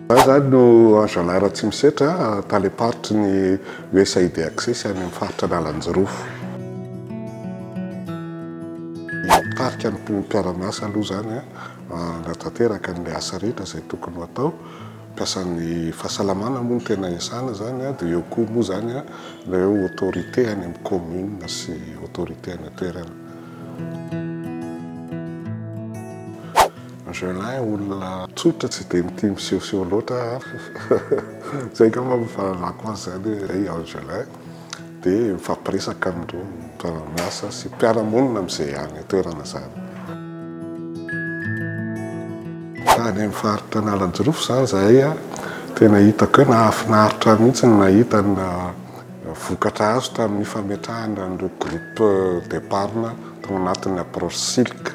Za zany no Ajalà Ratsimisetra, talem-paritry ny USAID Access any amin'ny faritra Analanjirofo. Hitarika ny mpiara-miasa aloha izany hanatanteraka ny asa rehetra izay tokony ho atao. Mpiasan'ny fahasalamana moa no tena iasana izany dia eo koa moa izany ireo autorités any amin'ny commune sy autorités any an-toerana. Angelin olona tsotra tsy dia mitia misehoseho loatra izay angamba no fahalalako azy izany hoe i Angelin dia mifampiresaka amin'ireo mpiara-miasa sy mpiara-monina amin'izay any an-toerana izany. Tany amin'ny faritra Analanjirofo izany izahay, tena hitako hoe nahafinaritra mihitsy ny nahita ny Vokatra azo tamin'ny fametrahana an'ireo groupe d'epargne tao anatin'ny approche Silk.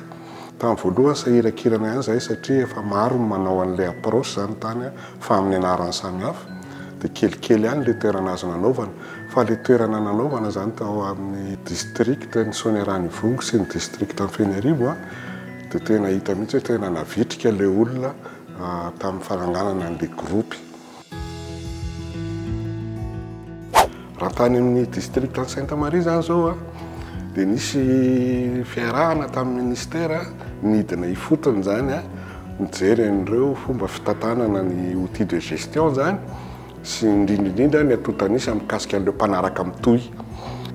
Tamin'ny voalohany sahirakirana ihany izahay satria efa maro ny manao an'ilay approche izany tany fa amin'ny anarany samihafa dia kelikely ihany ilay toerana azo nanaovana fa ilay toerana nanaovana izany tao amin'ny district ny Soanierana Ivongo sy ny district Anfenerivo dia tena hita mihitsy hoe tena navitrika ilay olona tamin'ny fananganana an'ilay groupe. Raha tany amin'ny district an'i Sainte Marie izany izao dia nisy fiarahana tamin'ny ministera nidina ifotony izany nijery an'ireo fomba fitantanana ny outil de gestion izany sy indrindra indrindra ny antontanisa mikasika an'ireo mpanaraka mitohy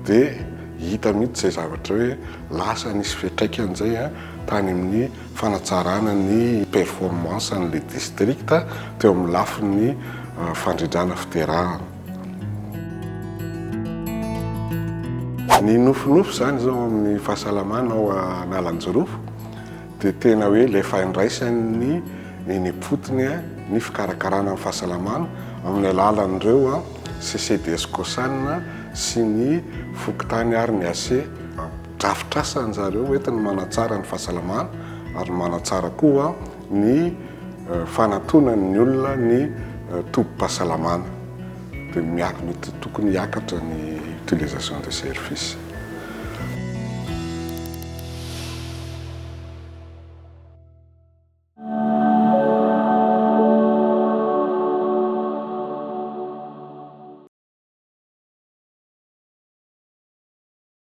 dia hita mihitsy izay zavatra hoe lasa nisy fiantraikany izay tany amin'ny fanatsarana ny performance an'ilay district teo amin'ny lafiny fandrindrana fiterahana. Ny nofinofy izany izao amin'ny fahasalamana ao Analanjirofo dia tena hoe ilay fahandraisan'ny eny am-potony ny fikarakarana ny fahasalamana amin'ny alalan'ireo CCDS Cosan sy ny fokontany ary ny AC. Drafitr'asa an-dry zareo hoentiny manatsara ny fahasalamana ary manatsara koa ny fanatonan'ny olona ny tobim-pahasalamana. Dia miak- mety tokony hiakatra ny utilisation des services.